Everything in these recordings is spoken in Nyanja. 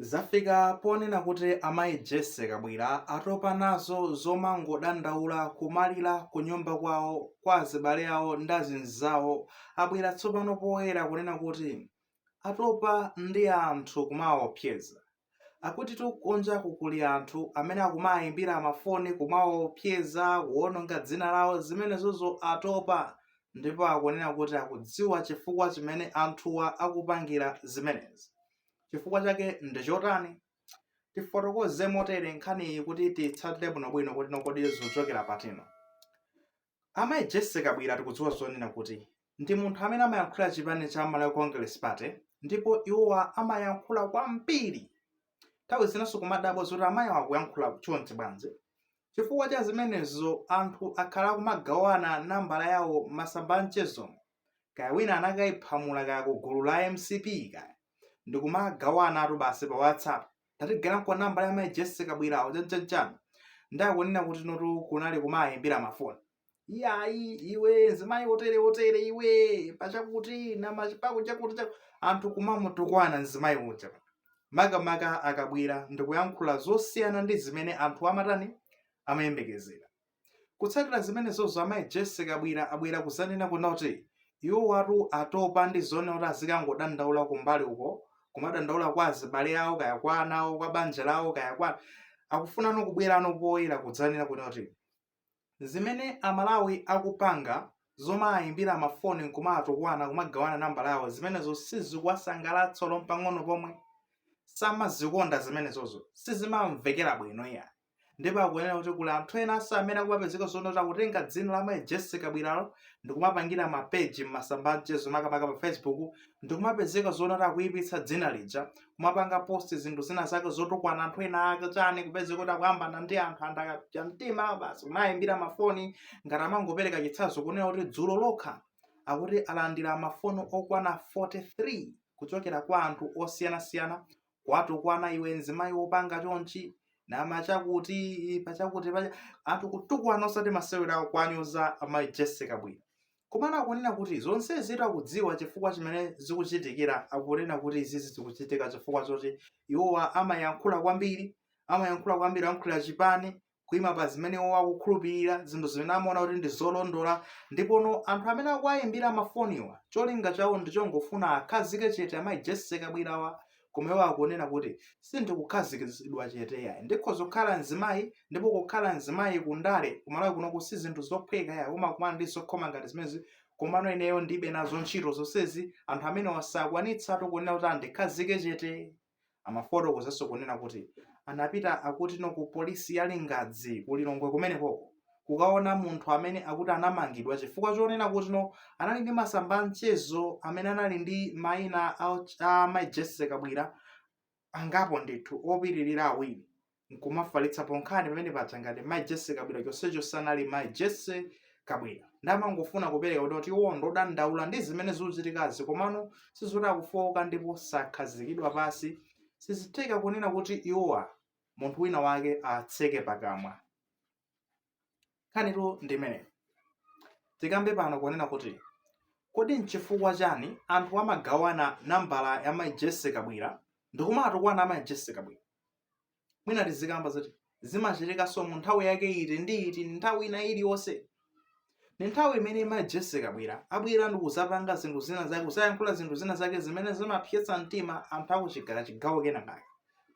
Zafika ponena kuti amayi Jessie Kabwila atopa nazo zomangodandaula, kumalira kunyumba kwawo, kwa azibale awo ndi azinzawo, abwera tsopano poyera kunena kuti atopa ndi anthu kumawaopseza. Akutitu kunjaku kuli anthu amene akumawayimbira mafoni kumawaopseza, kuwononga dzina lawo, zimenezozo atopa ndipo akunena kuti akudziwa chifukwa chimene anthuwa akupangira zimenezi. chifukwa chake ndi chotani tifotokoze motere nkhaniyi kuti titsatire bwinobwino kunena kuti kodi zikuchokera pati, no amayi Jessie Kabwila tikudziwa zoona kuti ndi munthu amene amayankhula chipani cha malawi congress party ndipo iwowa amayankhula kwambiri nthawi zinanso kumadabwa zoti amayiwa akuyankhula chonchi bwanji chifukwa cha zimenezo anthu akhala akumagawana nambala yawo m'masamba a mchezomo kaya wina anakaiphamula kaya ku gulu la mcp kaya ndikumagawanatu basi pa whatsapp tatigawireniko nambala ya mai Jessie Kabwilawo chanichanichani nde akunena kuti anthu kunali kumawayimbira mafoni iyayi iwe nzimayi wotere wotere iwe pachakuti namachakuti chakuti chaku anthu kumamutukwana nzimayi uja makamaka akabwera ndikuyankhula zosiyana ndi zimene anthu amatani amayembekezera Kutsatira zimenezozo amayi Jessie Kabwila abwera kuzanena kunena kuti iwowatu atopa ndi zoona kuti azikangodandaula kumbali uko kumadandaula kwa azibale awo kaya kwa ana awo kwa banja lawo kaya kwa akufuna ano kubwera ano poyera kudzanena kunena kuti zimene amalawi akupanga zomawayimbira mafoni nkumatukwana kumagawana nambala yawo zimenezo sizikuwasangalatsa olo pang'ono pomwe samazikonda zimenezozo sizimamvekera bwino iyayi ndipo akunena kuti kuli anthu enanso amene akumapezeka zoona kuti akutenga dzina la mayi Jessie Kabwilalo ndi kumapangira mapeji m'masamba amchezo makamaka pa Facebook ndi kumapezeka zoona kuti akuyipitsa dzina lija kumapanga post zinthu zina zake zotukwana anthu ena ake chani kupezeka kuti akuyambana ndi anthu anthu akapsa mtima basi kumawayimbira mafoni ngati angopereka chitsanzo kunena kuti dzulo lokha akuti alandira mafoni okwana 43 kuchokera kwa anthu osiyanasiyana kuwatukwana iwe mzimayi wopanga chonchi namachakuti pachakuti pacha anthu kutukwana osati masewera awo kuwanyoza amayi Jessie Kabwila komano akunena kuti zonsezitu akudziwa chifukwa chimene zikuchitikira akunena kuti izizi zikuchitika chifukwa choti iwowa amayankhula kwambiri amayankhula kwambiri ayankhulira chipani kuima pa zimene iwo akukhulupirira zinthu zimene amaona kuti ndi zolondola ndipono anthu amene akuwayimbira mafoniwa cholinga chawo ndichongofuna awakhazike chete amayi Jessie Kabwilawa koma iwo akunena kuti sindikukhazikitsidwa chete ayi ndikhoza kukhala mzimayi ndipo kukhala mzimayi kundale kumalawi kunoku si zinthu zophweka ayi umakumana ndi zokhoma ngati zimezi komano ineyo ndibe nazo ntchito zonsezi anthu amenewa sakwanitsatu kunena kuti andikhazike chete Amafotokozanso kunena kuti anapita akutino ku polisi ya Lingadzi ku Lilongwe kumenekoko kukaona munthu amene akuti anamangidwa chifukwa chonena kutino anali ndi masamba a mchezo amene anali ndi mayina a, a Mai Jesse Kabwira angapo ndithu opitirira awiri nkumafalitsa ponkhani pamene paja ngati mai jesse kabwira chonsecho sanali mai jesse kabwira ndiye amangofuna kupereka kuti kuti iwo ndodandaula ndi zimene zikuchitikazi komano sizoti akufowoka ndipo sakhazikidwa pansi sizitheka kunena kuti iwowa munthu wina wake atseke pakamwa nkhanitu ndi imeneyo tikambe pano kunena kuti kodi nchifukwa chani anthu amagawana nambala ya mai jesse kabwira ndikumatukwana amayi jesse kabwira mwina tizikamba zoti zimachitikanso mu nthawi yake iti ndi iti nthawi ina iliyonse ndi nthawi imene mai jesse kabwira abwera ndi kuzapanga zinthu zina zake kuzayankhula zinthu zina zake zimene zimapsetsa mtima anthu akuchigawo chigawo kenakake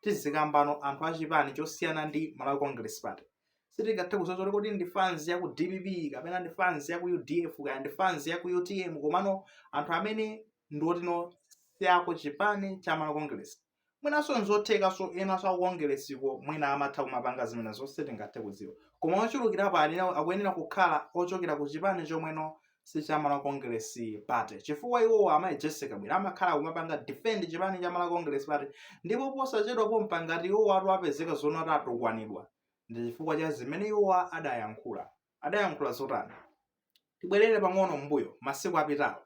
tizikambano anthu achipani chosiyana ndi malawi congress party sitingathe kulodza kuti kodi ndi fans ya ku dpp kapena ndi fans ya ku udf kaya ndi fans ya ku utm komano anthu amene ndi otino si aku chipani cha malawi congress mwinanso nzothekanso enanso akukongeresiko mwina amatha kumapanga zimenezo sitingathe kudziwa koma ochulukirapo anena- akuyenera kukhala ochokera ku chipani chomweno si cha malawi congress party chifukwa iwowo amayi jesse kabwira amakhala kumapanga defend chipani cha malawi congress party ndipo posachedwa pompa ngati iwowo akupezeka zoona ati akutukwanidwa ndi chifukwa cha zimene iwowa adayankhula. Adayankhula zotani? Tibwerere pang'ono m'mbuyo masiku apitawo.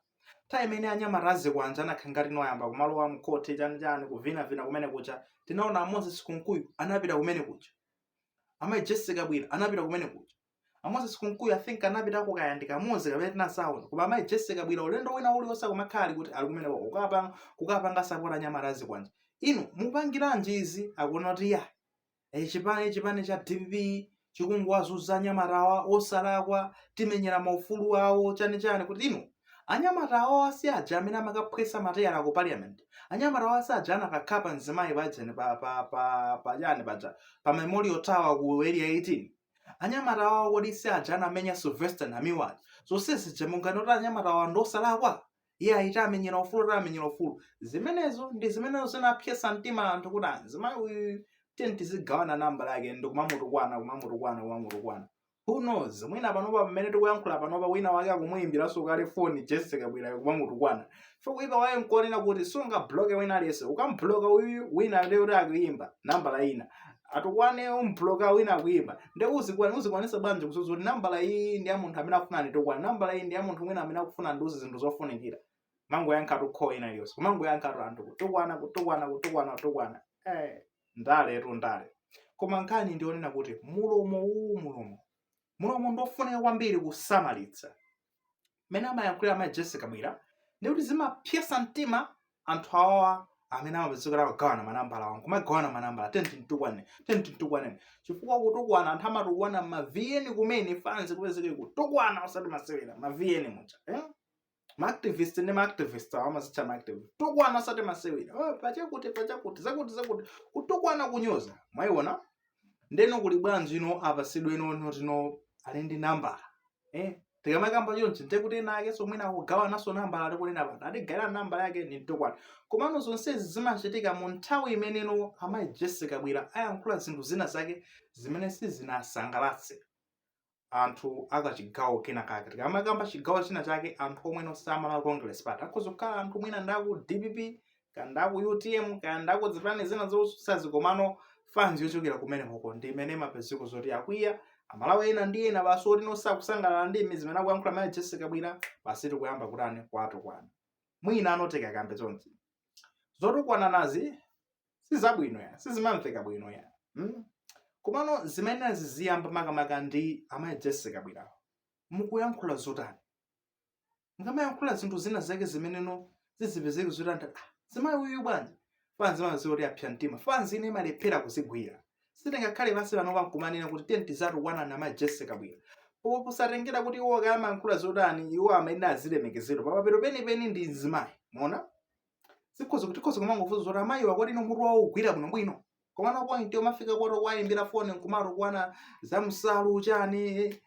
Nthawi imene anyamata azikwanje anakhala ngati ayamba kumalowa mkhoti chanichani kuvinavina kumeneko kuja tinaona a Moses Kunkuyu anapita kumeneko kuja. Amayi Jesse Kabwira anapita kumeneko kuja. A Moses Kunkuyu I think anapita kuja kaya ndi kamodzi kapena sitinawaone koma amayi Jesse Kabwira ulendo wina uliwonse amakhala ali kuti ali kumeneko kukapanga kukapanga support anyamata azikwanje. Inu mukupangiranji izi akuona kuti ya e, chipani chipani cha dpp chikungowazunza anyamatawa osalakwa timenyere maufulu awo chani chani kutino anyamata awa si aja amene amakaphwetsa mateyala ku parliament anyamata awa si aja anakakhapa mzimayi pajeni pa pa pa pa chani paja pa memorial tower ku area 18 anyamata awa kodi si aja anamenya sylvester namiwa zonse zija munganene zoti anyamata awa ndi osalakwa iyayi tamenyera ufulu tamenyera ufulu zimenezo ndi zimene zinapsetsa mtima anthu kuti mzimayi uyu tiyeni tizigawana nambala yake ndikumamutukwana kumamutukwana kumamutukwana who knows mwina panopa pamene tikuyankhula panopa wina wake akumuyimbiranso kale foni jesse kabwirayo kumamutukwana so kuipa kwake nkunena kuti sungabloke wina aliyense ukamubloka uyu wina lero akuyimba nambala ina atukwane aphula wina akuyimba nde uzikwana uzikwanisa bwanji kudziwa kuti nambala iyi ndi ya munthu amene akufuna anditukwane nambala iyi ndi ya munthu wina amene akufuna andiuze zinthu zofunikira umangoyankhatu call ina iliyonse kumangoyankhatu anthu kutukwana kutukwana kutukwana kutukwana eh ndaletu ndale koma nkhani ndi yonena kuti mulomo uwu mulomo mulomo ndofunika kwambiri kusamalitsa mmene amayankhulira amayi Jessie Kabwira ndikuti zimapsetsa mtima anthu awawa amene amapezeka kugawana manambala awo nkumagawana manambala nde kuti mtukwane nde kuti mtukwane chifukwa kutukwana anthu amatukwana ma vn kumene fanzi kupezeke kutukwana osati masewera ma vn muja eh? maactivist ndi maactivist awo amazitcha maactivist kutukwana osati masewera oh, pachakuti pachakuti zakuti zakuti kutukwana kunyoza mwayiona ndeno kuli bwanji ino apatsidwe ino oti ali ndi nambala eh tikamakamba chonchi nde kuti ena akenso mwina akugawa nawonso nambala alikunena pano atigayire nambala yake ndimtukwane komano zonsezi zimachitika mu nthawi imeneno amayi Jessie Kabwira ayankhula zinthu zina zake zimene sizinawasangalatse anthu akachigawo kena kake tikamakamba chigawo china chake anthu omweno a Malawi Congress Party akhoza kukhala anthu mwina ndaku dpp kaya ndaku utm kaya ndaku zipani zina zotsutsazi komano fans yochokera kumene koko ndi imene imapezeka zoti akwiya amalawi ena ndi ena basi otino sakusangalala ndi zimene akuyankhula mayi Jessie Kabwira basi tikuyamba kutani kwatukwana mwina ano tikakambe chonchi zotukwananazi sizabwino ya sizimamveka bwino ya mm? komano zimene ziziyamba makamaka ndi amayi Jessie Kabwirawo mukuyankhula zotani mukamayankhula zinthu zina zake zimeneno zizipezeke zoti nde ah, mzimayi uyu bwanji fanzi mazi oti apsa mtima fanzi ine imalephera kuzigwira sitingakhale pansi pano nkumanena kuti nde kuti awatukwana amayi Jessie Kabwira po posatengera kuti iwo amayankhula zotani iwo amene azilemekezedwa pamapeto penipeni ndi mzimayi mwaona zikhoza kuti khoza kumangofunsa zoti amayi awa kodi mutu wawo ugwira bwino bwino komano point umafika poti kuwayimbira foni nkumatukwana za nsalu chani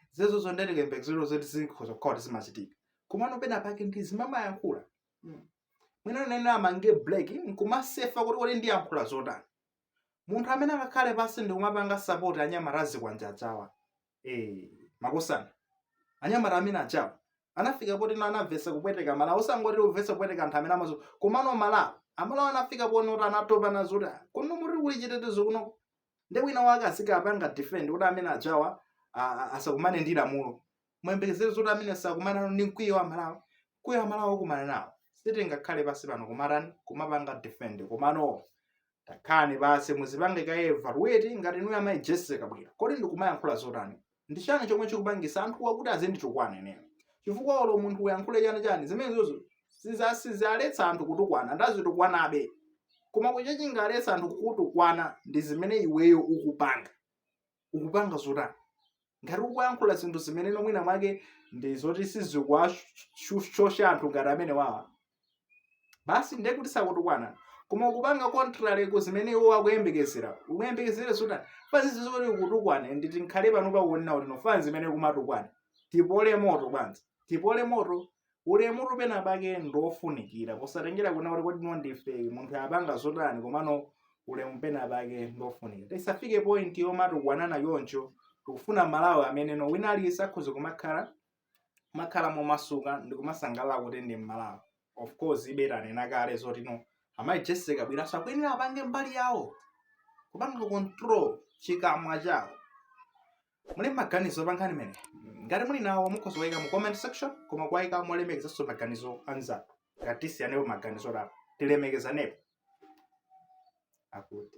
nde tikambe zoti zikhoza kukhala zimachitika komano pena pake munthu uzimayankhula mwina uzimanga break nkumasefa kuti kodi ndiyankhula zotani munthu amene angakhale pansi ndikumapanga sapoti anyamata azikwanje awa Eh, makosana anyamata amene aja anafika potino anamvetsa kupweteka amalawi osangoti kumvetsa kupweteka anthu amene anzawo komano malawi amalawi anafika poti anatopa nazo kuti "Ah, kuno kodi kuli chitetezo kuno nde wina wake azikapanga defend kuti amene ajawa a- a- asakumane ndi lamulo muyembekezere zoti amene sakumana ndi mkwiyo wa amalawi Kuyankha amalawi okumana nawo sitingakhale pansi pano kumatani kumapanga defend komano takhalani pansi muzipange ka evaluate ngati inuyo amayi jessie kabwila kodi ndikumayankhula zotani ndi chani chomwe chikupangisa anthuwa kuti azinditukwana ineyo chifukwa olo munthu uyankhule chani chani zimenezozo siza- sizaletsa anthu kutukwana ndiazitukwanabe koma chomwe chingaletse anthu kukutukwana ndi zimene iweyo ukupanga ukupanga zotani ngati ukuyankhula zinthu zimene no mwina mwake ndi zoti sizikuwashosha anthu ngati amene wawa basi ndiye kuti sakutukwana koma ukupanga contrary ku zimene iwo akuyembekezera ukuyembekezera zotani fanzi zoti zikutukwane ndiye tikhale pano pakuonena kuti no fanzi imene kumatukwana tipole moto fanzi tipole moto ulemu pena pake ndiofunikira posatengera kunena kuti kodi munthu wapanga zotani komano ulemu pena pake ndiofunikira tisafike point yomatukwanana choncho tikufuna malawi amene no wina aliyense akhoza kumakhala kumakhala momasuka ndi kumasangalala kuti ndi mmalawi of course ife tanena kale zoti no amayi jessie kabwilanso akuyenera apange mbali yawo kupanga control chikamwa chawo muli maganizo pa nkhani imeneyi ngati muli nawo mukhoza kuwaika mu comment section koma kuwaika molemekezanso maganizo anzanu ngati tisiyanepo maganizo apa tilemekezanepo akuti